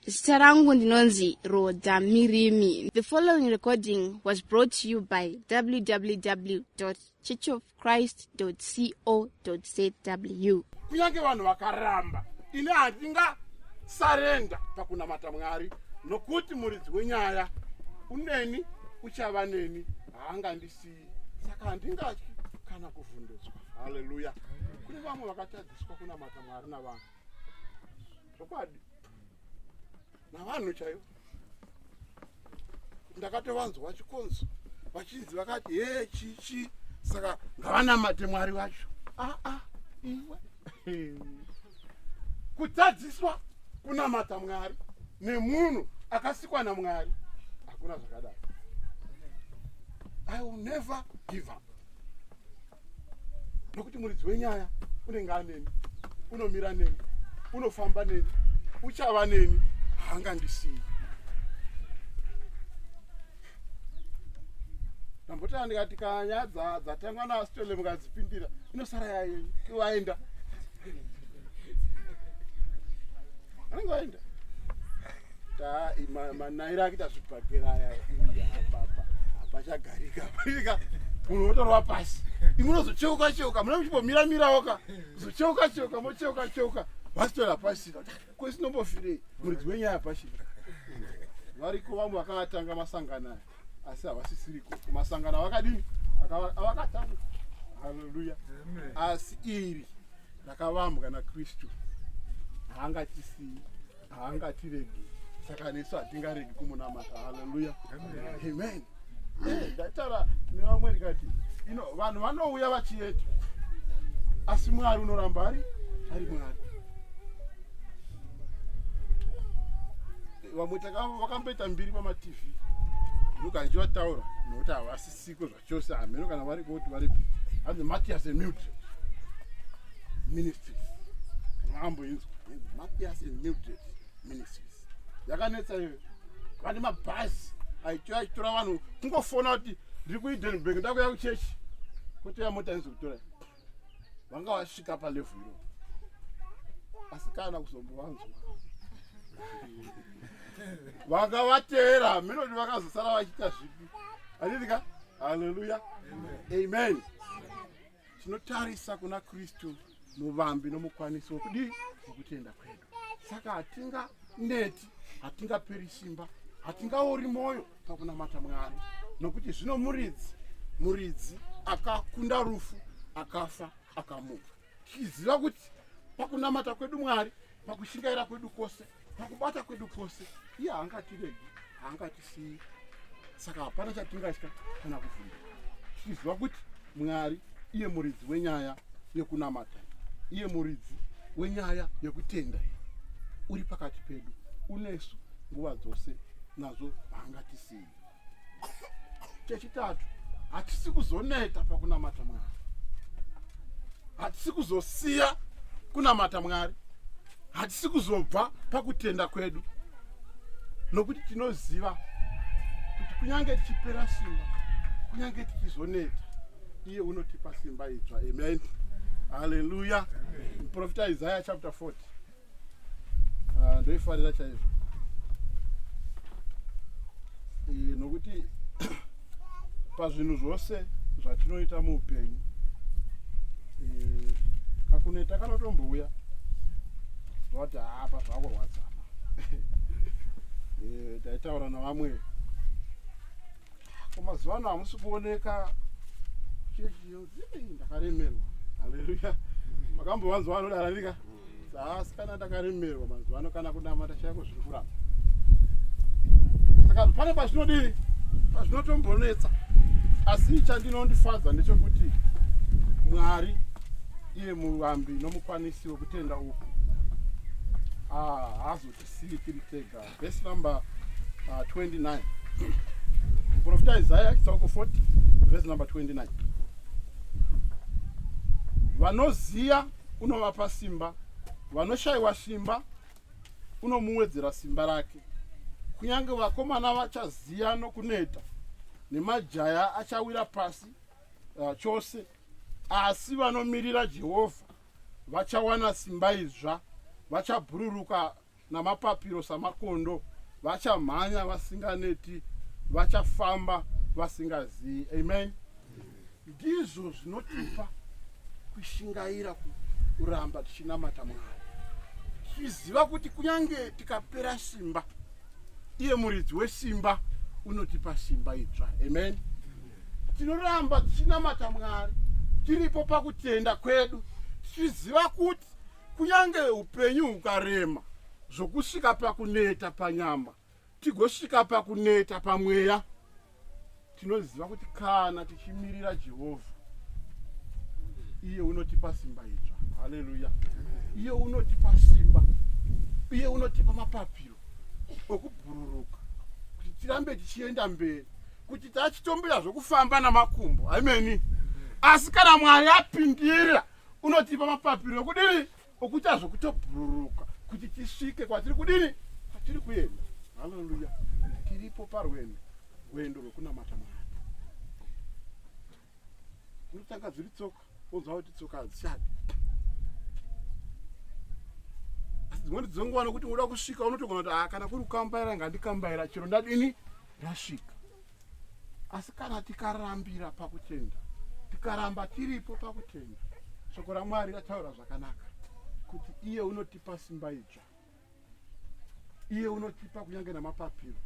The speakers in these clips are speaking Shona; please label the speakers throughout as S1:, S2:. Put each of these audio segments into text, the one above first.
S1: zita rangu ndinonzi roda mirimi the following recording was brought to you by www churchofchrist co zw kunyange vanhu
S2: vakaramba ini handinga sarenda pakunamata mwari nokuti muridzi wenyaya uneni uchava neni haangandisiyi saka handingatyi kana kuvhundutswa haleluya kune vamwe vakatadziswa kunamata mwari navanhu zvokwadi navanhu chaivo ndakatovanzwa vachikonzo vachinzi vakati hee chichi saka ngavanamate mwari vacho aa ah, ah, iwe kutadziswa kunamata mwari nemunhu akasikwa namwari hakuna zvakadaro i will never give up nokuti muridzi wenyaya unenge aneni unomira neni unofamba neni uchava neni hanga ndisiyi ndambotanga ndikati kana nyaya dzatangwa naasitole mukadzipindira inosara yayenyu iwaenda anenge aenda manaira akuita zvibhagera aya apapa apachagarika apaika munhu wotorwa pasi imwe unozocheuka cheuka mune muchimbomira mirawo ka zocheuka cheuka mocheuka cheuka vasitora pasi kwesinombofirei muridzi wenyaya pasi variko vamwe vakatanga masangano aya asi havasisiriko masangano avakadini avakatanga haleluya asi iri rakavambwa nakristu haangatisiyi haangatiregi saka nesu hatingaregi kumunamata haleluya amen eh, ndaitaura nevamwe ndikati ino vanhu vanouya vachieta asi mwari unoramba ari ari mwari vamwe vakamboita mbiri pamatv ndogara ndichivataura nokuti havasisiko zvachose hameno kana variko kuti varipi hanzi matias emut ministries maamboinzwa matias emut ministries yakanetsa iyo vane mabhazi aitora achitora vanhu kungofona kuti ndiri kuidenburg ndakuya kuchechi kotoya mota inzi kutora vanga vasvika palevhu iro asi kana kuzombovanzwa vanga vateera melodi vakazosara vachiita zvipi anidika haleluya amen tinotarisa kuna kristu muvambi nomukwanisi wokudii wokutenda kwedu saka hatinga neti hatingaperi simba hatingaori mwoyo pakunamata mwari nokuti zvino muridzi muridzi akakunda rufu akafa akamuka tichiziva kuti pakunamata kwedu mwari pakushingaira kwedu kwose pakubata kwedu kwose iye haangatiregi haangatisiyi saka hapana chatingatya kana kuvhunda tichiziva kuti mwari iye muridzi wenyaya yekunamata iye muridzi wenyaya yekutenda uri pakati pedu unesu nguva dzose nazvo haangatisiyi chechitatu hatisi kuzoneta pakunamata mwari hatisi kuzosiya kunamata mwari hatisi kuzobva pakutenda kwedu nokuti tinoziva kuti kunyange tichipera simba kunyange tichizoneta iye unotipa simba idzva amen haleluya muprofita isaya chapter 40 ah, ndoifarira chaizvo eh, nokuti pazvinhu zvose zvatinoita muupenyu eh, kakuneta kanotombouya vati hapa zvakurwadzana eh, taitaura navamwe kumazuva ano hamusi kuoneka chechi ndakaremerwa haleluya makambovanzwa vanodararika asi kana takaremerwa mazuva ano kana kunamata chaiko zviri kuramba saka pane pazvinodii pazvinotombonetsa asi chandinondifadza ndechekuti mwari iye muvambi nomukwanisi wekutenda uku ah, haazotisiyi tiri tega vhesi number uh, 29 muprofita isaya chitsauko 40 vhesi number 29 vanoziya unovapa simba vanoshayiwa simba unomuwedzera simba rake kunyange vakomana vachaziya nokuneta nemajaya achawira pasi uh, chose asi vanomirira jehovha vachawana simba idzva vachabhururuka namapapiro samakondo vachamhanya vasinganeti vachafamba vasingazivi amen ndizvo zvinotipa kushingaira kuramba tichinamata mwari tichiziva kuti kunyange tikapera simba iye muridzi wesimba unotipa simba idzva amen tinoramba tichinamata mwari tiripo pakutenda kwedu tichiziva kuti Kunyange upenyu hukarema zvokusvika pakuneta panyama tigosvika pakuneta pamweya, tinoziva kuti kana tichimirira Jehovha, iye unotipa simba idzva. Haleluya! Iye unotipa simba, iye unotipa mapapiro okubhururuka kuti tirambe tichienda mberi, kuti tachitombira zvokufamba namakumbo. Ameni. Asi kana Mwari apindira unotipa mapapiro okudini okuita zvokutobhururuka kuti tisvike kwatiri kudini kwatiri kuenda haleluya tiripo parwendo rwendo rwekunamata mwari unotanga dziri tsoka wonzwa kuti tsoka hadzichadi asi dzimweni dzonguva nokuti unoda kusvika unotogona kuti ah, kana kuri kukambaira ngandikambaira chero ndadini ndasvika asi kana tikarambira pakutenda tikaramba tiripo pakutenda shoko ramwari rataura zvakanaka kuti iye unotipa simba idzva iye unotipa kunyange namapapiro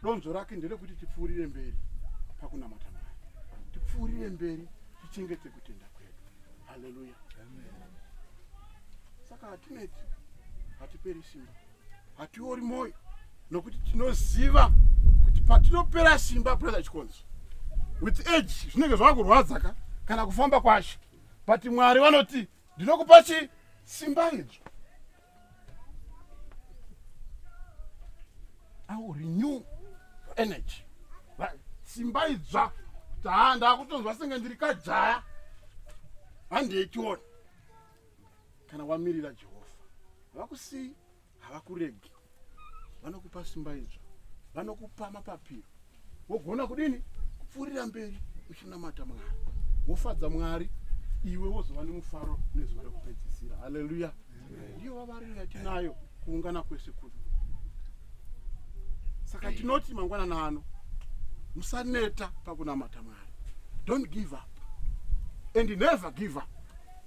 S2: donzvo rake nderekuti tipfuurire mberi pakunamata mwari tipfuurire mberi tichengete kutenda kwedu haleluya saka hatineti hatiperi simba hatiori mwoyo nokuti tinoziva kuti patinopera simba brother chikonzo with age zvinenge zvava kurwadza ka kana kufamba kwashe but mwari vanoti ndinokupa chi simba idzo au renew energy simba idzva taa ndakutonzwa senge ndiri kajaya handiechiona kana wamirira jehovha havakusiyi havakuregi vanokupa simba idzva vanokupa mapapiro wogona kudini kupfuurira mberi uchinamata mwari wofadza mwari iwe wozova nemufaro nezuva rekupedzisira haleluya ndiyo vavariro yatinayo kuungana kwese kuno saka tinoti mangwanana ano musaneta pakunamata mwari don't give up and never give up